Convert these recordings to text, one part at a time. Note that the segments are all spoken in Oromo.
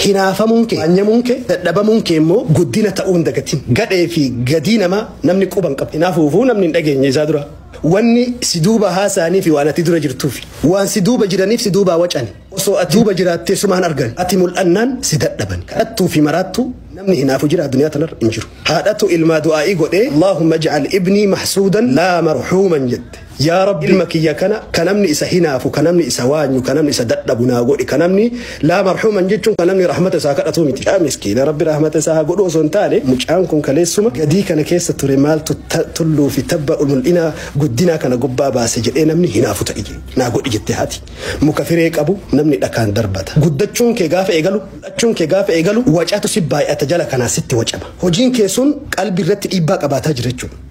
Hinaafamuun kee, waanyamuun kee, dadhabamuun kee immoo guddina ta'uu hin dagatin. Gadhee fi gadii namaa namni quba hin qabu. Hinaafuufuu namni hin dhageenye isaa dura wanni si duuba haasa'anii fi waan ati dura jirtuu fi waan si duuba jiraniif si duubaa wacani. Osoo ati duuba jiraattee suma hin argani. Ati mul'annaan si dadhabani. Kadhattuu fi maraattuu namni hinaafu jiraa duniyaa tanarra hin jiru. Haadhatu ilmaa du'aa'ii godhee Allaahumma ij'al ibnii mahsuudan laa marhuuman jette. Yaa Rabbi ilma kiyya kana ka namni isa hinaafu, ka namni isa waanyu, ka namni isa dadhabu naa godhi. Ka namni laa marhuuman jechuun ka namni rahmata isaa kadhatuu miti. Yaa miskiina Rabbi rahmata isaa haa godhu osoo hin taane mucaan kun kaleessuma gadii kana keessa ture maaltu tulluu fi tabba mul'inaa guddinaa kana gubbaa baase jedhee namni hinaafu ta'i naa godhi jette haati. Muka firee qabu namni dhakaan darbata. Guddachuun kee gaafa eegalu, mul'achuun kee gaafa eegalu wacatu si baay'ata jala kanaa sitti wacama. Hojiin kee sun qalbii irratti dhiibbaa qabaataa jira jechuudha.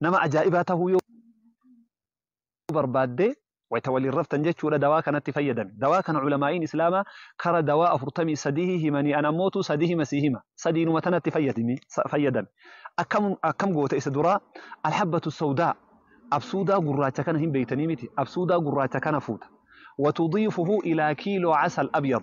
nama ajaa'ibaa tahuu yoo barbaadde wayta waliin raftan jechuudha dawaa kanatti fayyadami. Dawaa kana culamaa'iin Islaamaa kara dawaa afurtamii sadihii himanii an ammootu sadihima sii hima. Sadiinuma tanatti fayyadimi sa- fayyadami. Akkam akkam goota isa duraa alhabbatu sawdaa absuudaa gurraacha kana hin beeytanii miti absuudaa gurraacha kana fuuta. Watudiifuhu ilaa kiiloo casal abyad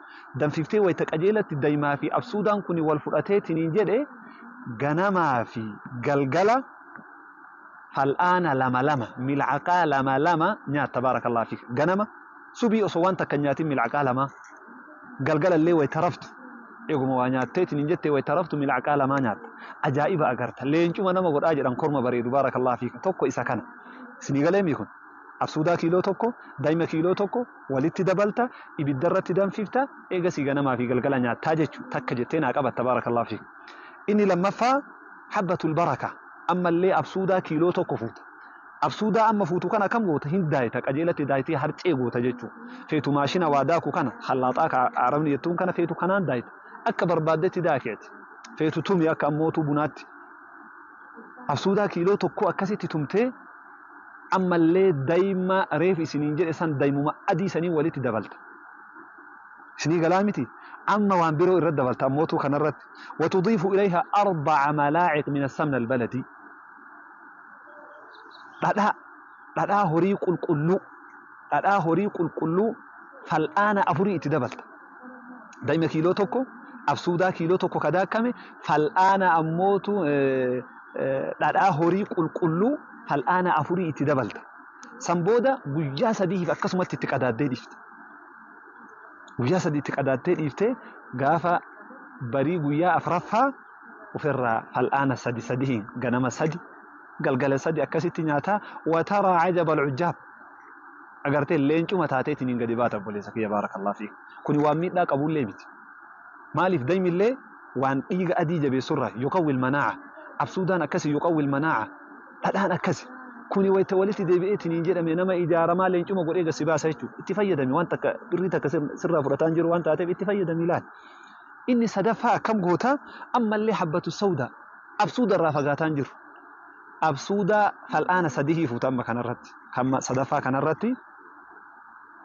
danfiftee wayta qajeelatti daimaa fi absuudaan kuni wal fudhateetiniin jedhe ganamaa fi galgala fal'aana lama lama milcaqaa lama lama nyaat tabaarakallah fi ganama subii osoo waan takka nyaatin milcaqaa lama galgala illee wayta raftu eeguma waa nyaatteetiniin jettee wayta raftu milcaqaa lamaa nyaatta ajaa'iba agarta leencuma nama godhaa jedhan korma bareedu baarakallah fi tokko isa kana isinii galeemii kun Absuudaa kiiloo tokko, daima kiiloo tokko walitti dabalta, ibidda irratti danfifta, eegasii ganamaa fi galgala nyaattaa jechu takka jettee naa qabatta baarakallahu fiik. Inni lammaffaa habbatul baraka ammallee absuudaa kiiloo tokko fuuta. Absuudaa amma fuutu kana akkam goota hin daayita qajeelatti daayitee harcee goota jechu. Feetu maashina waa daaku kana hallaaxaa ka arabni jettuun kana feetu kanaan daayita. Akka barbaaddetti daaki ati. Feetu tumi akka ammootuu bunaatti. Absuudaa kiiloo tokkoo akkasitti tumtee Ammallee daima reef isiniin jedhe san daimuma adii saniin walitti dabalta. Isinii galaa miti? Amma waan biroo irra dabalta ammootuu kanarratti. Watudiifu ilayha arba'a malaaciq min assamn albaladii. Dhadhaa dhadhaa horii qulqulluu dhadhaa horii qulqulluu fal'aana afurii itti dabalta. dayma kiiloo tokko, absuudaa kiiloo tokko ka daakkame, fal'aana ammootu dhadhaa horii qulqulluu fal'aana afurii itti dabalta. San booda guyyaa sadiif akkasumatti itti qadaaddee dhiifta. Guyyaa sadii itti qadaattee dhiiftee gaafa barii guyyaa afraffaa ofirraa fal'aana sadi sadiin ganama sadi galgala sadi akkasitti nyaataa wataraa ajaba alcujaab. Agartee leencuma taateetiniin gadi baata obboleessa kiyya baarakallah fiik. Kuni waan miidhaa qabullee miti. Maaliif daymillee waan dhiiga adii jabeessurraayi. Yuqawwi almanaa'a. Absuudaan akkasi yuqawwi almanaa'a. Dhadhaan akkasi. Kuni wayta walitti deebi'eetiniin jedhame nama ijaaramaa leencuma godhee gad si baasa jechuudha. Itti fayyadami waan takka birrii takka sirraa fudhataa hin jiru waan taateef itti fayyadami ilaali. Inni sadaffaa akkam goota ammallee habbatu sawdaa. Absuudarraa fagaataa hin jiru. Absuuda fal'aana sadihii fuuta amma kanarratti. Kan sadaffaa kanarratti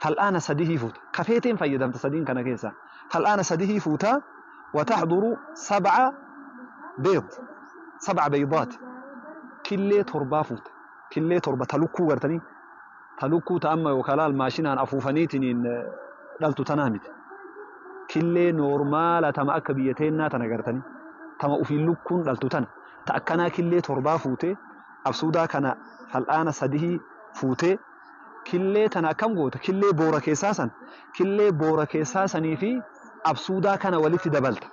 fal'aana sadihii fuuta. Ka feeteen fayyadamta sadiin kana keessaa. Fal'aana sadihii fuuta watahduru sab'a beed sab'a beeydaat killee torbaa fuuta. Killee torba ta lukkuu gartanii ta lukkuu ta amma yookaan laal maashinaan afuufaniitiin dhaltu tanaa miti. Killee noormaala tama akka biyya teennaa tana gartanii tama ufiin lukkuun dhaltu tana. ta akkanaa killee torbaa fuutee absuudaa kana fal'aana sadihii fuutee killee tana akkam goota killee boora keessaa san killee boora keessaa sanii fi absuudaa kana walitti dabalta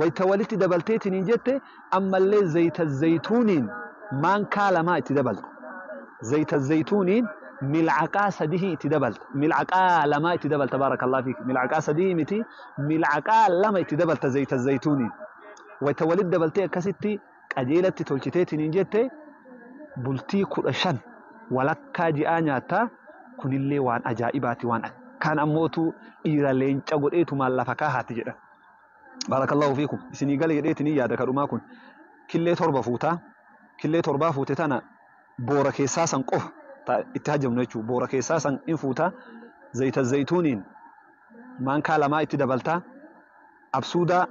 wayta walitti dabalteetiniin jette ammallee zayta zaytuuniin maankaa lamaa itti dabalta zayta zaytuuniin milcaqaa sadihii itti dabalta milcaqaa lamaa itti dabalta baarakallah fiik milcaqaa sadihii miti milcaqaa lama itti dabalta zayta zaytuuniin wayta walitti dabaltee akkasitti qajeelatti tolchiteetiniin jette bultii kudha shan walakkaa ji'aa nyaatta kunillee waan ajaa'ibaati waan akkaan ammootu dhiira leenca godheetumaan lafa kaahaatti jedha. Baarakallahu fiikum isinii gale jedheetiniin yaada kadhumaa kun killee torba fuuta killee torbaa fuute tana boora keessaa san qofa ta- itti hajjamnu jechuudha boora keessaa san in fuuta zayita zayituuniin maankaa lamaa itti dabaltaa absuudaa,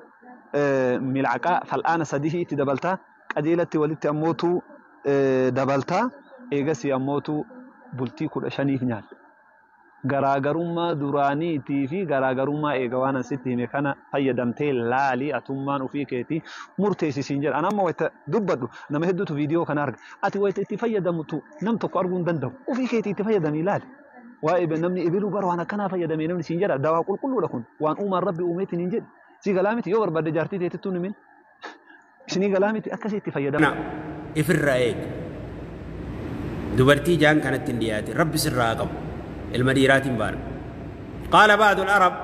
milcaqaa, fal'aana sadihii itti dabalta, qajeelatti walitti ammoo tu dabalta, eegasii ammoo tu bultii kudha shaniif nyaadha. Garaagarummaa duraaniitii fi garaagarummaa eega waan an sitti hime kana fayyadamtee laali atummaan ufii keetii murteessi siin jedha. An amma wayta dubbadhu nama hedduutu viidiyoo kana arga. Ati wayta itti fayyadamtu nam tokko arguu hin danda'u. Ufii keetii itti fayyadamii laali. waa'ee be- namni ebiluu bara waan akkanaa fayyadame namni siin jedha dawaa qulqulluudha kun waan uumaan rabbi uumeetiin hin jedhu si galaa miti yoo barbaadde jaartii teetittuu nimin isinii galaa miti akkasii itti fayyadama. kana ifirraa eegi dubartii jaan kanatti hin dhiyaatin rabbi sirraa haa qabu ilma dhiiraatiin baana qaala ba'adu arab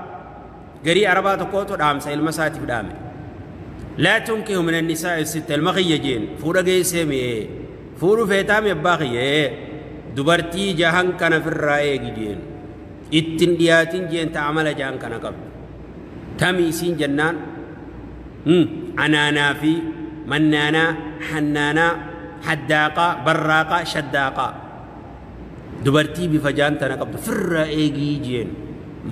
garii arabaa tokkootu dhaamsa ilma isaatiif dhaame laa tunkihu min annisaa sitta ilma kiyya jeen fuudha geessee mi'ee fuudhu feetaa mi abbaa kiyya ee dubartii jahan kana firraa eegi jeen ittin dhiyaatin jeen ta amala jahan kana qabdu tami isiin jennaan anaanaa fi mannaanaa hannaanaa haddaaqaa barraaqaa shaddaaqaa Dubartii bifa jaan tana qabdu firraa eegii jeen.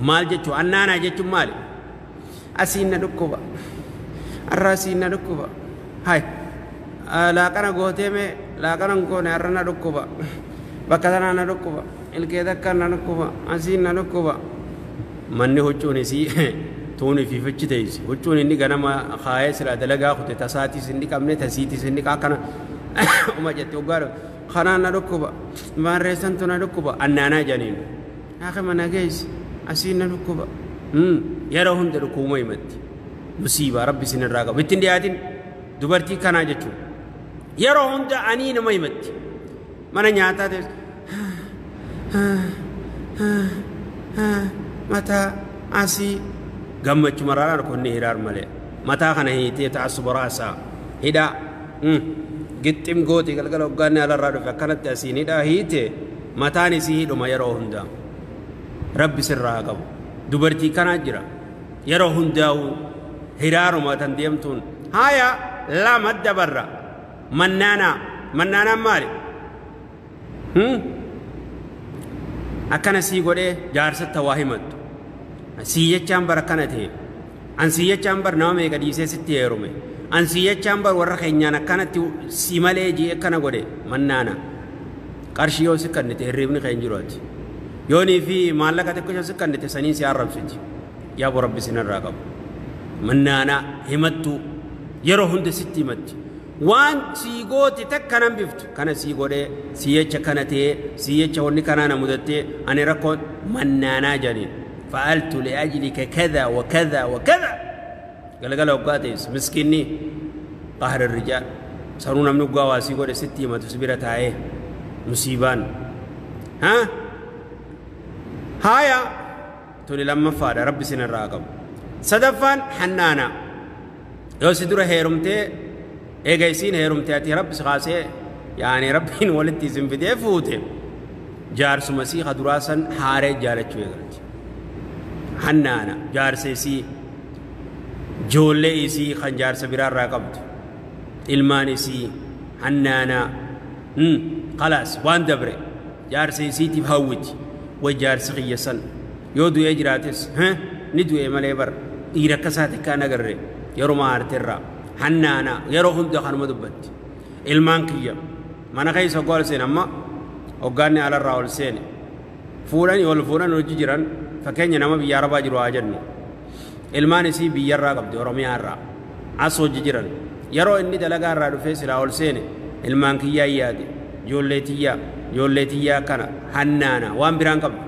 Maal jechuu? Annaanaa jechuun maali? Asiin na dhukkuba. Arraa asiin na dhukkuba. Hay. Laaqana gootee mee laaqana hin goone arra na dhukkuba. Bakka tanaa na dhukkuba. Ilkee takka na dhukkuba. Asiin na dhukkuba. Manni huccuun isii tuun ifiifachi teessi. Huccuun inni ganama kaayee silaa dalagaa kute tasaatis hin dhiqamne tasiitis hin dhiqa akkana uma jette oggaa Kanaan na dhukkuba. Maarree santu na dhukkuba. Annaanaa janiin. Haakima na geessi. Asiin na dhukkuba. Yeroo hunda dhukkubuma himatti. Musiibaa rabbi isinirraa qabu. Ittiin dhiyaatin dubartii kanaa jechuun. Yeroo hunda anii nama himatti. Mana nyaataa ta'es. Mataa asii. Gammachuma raraan konni hiraar malee. Mataa kana hiitee ta'assuba raasaa. Hidhaa. Gixxim gooti galgala hoggaanni alarraa dhufe akkanatti asiin hidhaa hiite mataan isii hidhuma yeroo hundaa. Rabbi sirraa haa qabu. Dubartii kanaa jira. Yeroo hundaa'uu hiraaruma tan deemtuun. Haaya lama dabarra. Mannaanaa. Mannaanaan maali? akkana sii godhee jaarsatta waa himattu sii jechaan bar akkana ta'e an sii jechaan bar nama meeqa dhiisee sitti heerume an sii jechaan bar warra keenyaan akkanatti si malee jee akkana godhe mannaana qarshii yoo si kannite hirriibni keen jiru ati yoonii fi maallaqa xiqqisho si kannite saniin si arrabsiti yaa bo rabbi sinirraa qabu mannaana himattu yeroo hunda sitti himatti Waan sii goote takka hin hambiftu. Kana sii godhee, sii jecha kana ta'ee, sii jecha wanni kanaa na mudattee, ani rakkoon mannaanaa jedhaniin. Fa'altu li'ajlika kadha wa kadha wa kadha. Galgala hoggaa teessu miskiinni qahri rijaal. Sanuu namni hoggaa waa sii godhe sitti himatu si bira taa'ee musiibaan. Ha? Haaya tuni lammaffaadha rabbi isinirraa haa qabu. Sadaffaan hannaanaa. yoo si dura heerumtee eega isiin heerumte ati rabbi si kaasee yaani rabbiin walitti isin fidee fuute jaarsuma sii ka duraa san haaree jaalachuu eegalti hannaana jaarsa isii joollee isii kan jaarsa biraa irraa qabdu ilmaan isii hannaana kalaas waan dabre Jaarsa isiitiif hawwiti. Way jaarsi kiyya san yoo du'ee jiraates he ni du'e malee bar dhiira akka isaa takkaa hin agarre yeruma aarte irraa hannaana yeroo hunda kanuma dubbatti. Ilmaan kiyya mana keessa hoggaa ol seene amma hoggaanni alarraa ol seene fuudhanii ol fuudhan hojji jiran fakkeenya nama biyya arabaa jiru haa jennu. Ilmaan isii biyyarraa qabdi Oromiyaa irraa. As hojji jiran. Yaroo inni dalagaa irraa dhufee silaa ol seene ilmaan kiyyaan yaade. Joollee tiyyaa, joollee tiyyaa akkana, hannaana, waan biraan qabdu.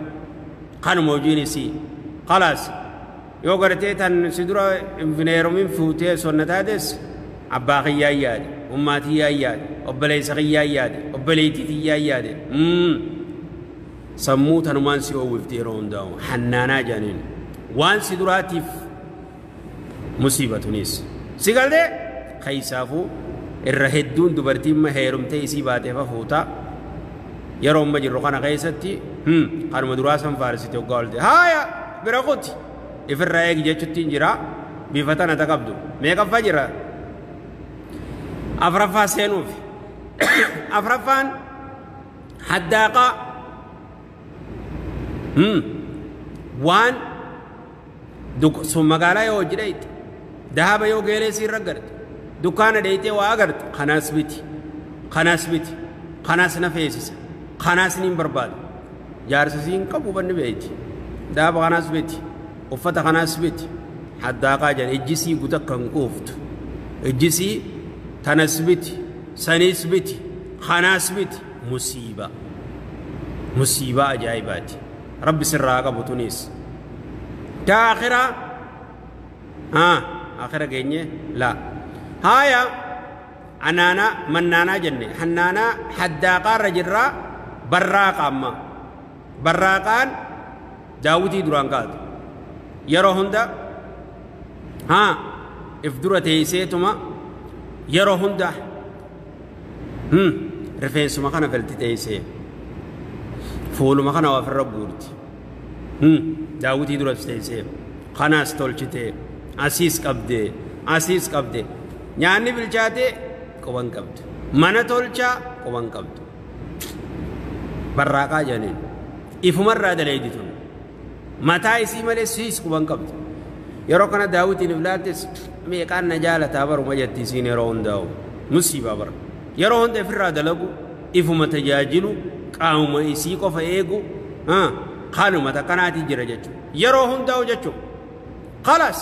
Kanuma hojiin isii. Kalaas. Yoo gartee tan si dura infineerumin fuutee sonna taates abbaa kiyyaan yaade, ummaa tiyyaan yaade, obboleessa kiyyaan yaade, obboleettii tiyyaan yaade. Mm. Sammuu tanumaan si oowwifti yeroo hundaa'u hannaanaa jaaniin waan si duraatiif musiibatunis si galtee keessaafuu irra hedduun dubartiin ma heerumtee isii baatee fafuutaa yeroo amma jirru kana keessatti kanuma duraa san faarsite hoggaa olte haaya bira kuti ifirraa eegi jechuttiin jira bifa tana ta qabdu meeqaffaa jira afraffaa seenuuf afraffaan haddaaqaa Hmm. waan duk- sun magaalaa yoo hojii dhayte dahaba yoo geelee si irra garte dukkaana dhaytee waa agarte kanaas biti kanaas biti kanaas na feesisa kanaas niin barbaada jaarsa siin qabu banni beeyti dahaba kanaas biti uffata kanaas biti haddaaqaa jedhan ijjisii guta kan quuftu ijjisii tanas biti Saniis miti, kanaas miti, musiibaa. Musiibaa ajaa'ibaati. Rabbi sirraa haa qabu tuniis. Taa akhiraa? Haa, akhira geenye? Laa. Haaya, anaanaa, mannaanaa jenne. Hannaanaa, haddaaqaa irra jirraa, barraaqa ammaa. Barraaqaan daawwitii duraan kaatu. Yeroo hunda haa if dura teeyseetuma yeroo hunda hmm, rifeensuma kana galti teeysee fuuluma kana waa ofirra guurti. Hmm, daawwitii duras teeysee kanaas tolchitee asiis qabdee asiis qabdee nyaanni bilchaatee quban qabdu. Mana tolchaa quban qabdu. barraaqaa jedhaniin ifumarraa daleeydi tun mataa isii malee siis quban qabdu yeroo kana daawwitiin iflaattis meeqaan na jaalataa baruma jetti isiin yeroo hundaa'u musiibaa bara yeroo hunda ifirraa dalagu ifuma tajaajilu qaamuma isii qofa eegu haaluma takkanaatii jira jechuudha yeroo hundaa'u jechuudha kalaas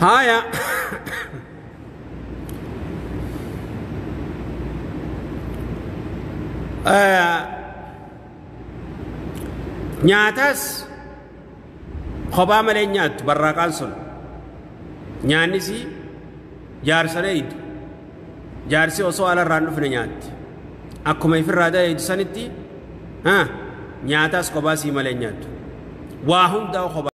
Haya. Nyaataas kophaa malee nyaattu barraaqaan sun. Nyaannis jaarsa dheeydu. Jaarsi osoo alarraan dhufne nyaatti. Akkuma ifirraa dheeydu sanitti nyaataas kophaa sii malee nyaattu. Waa hundaa kophaa.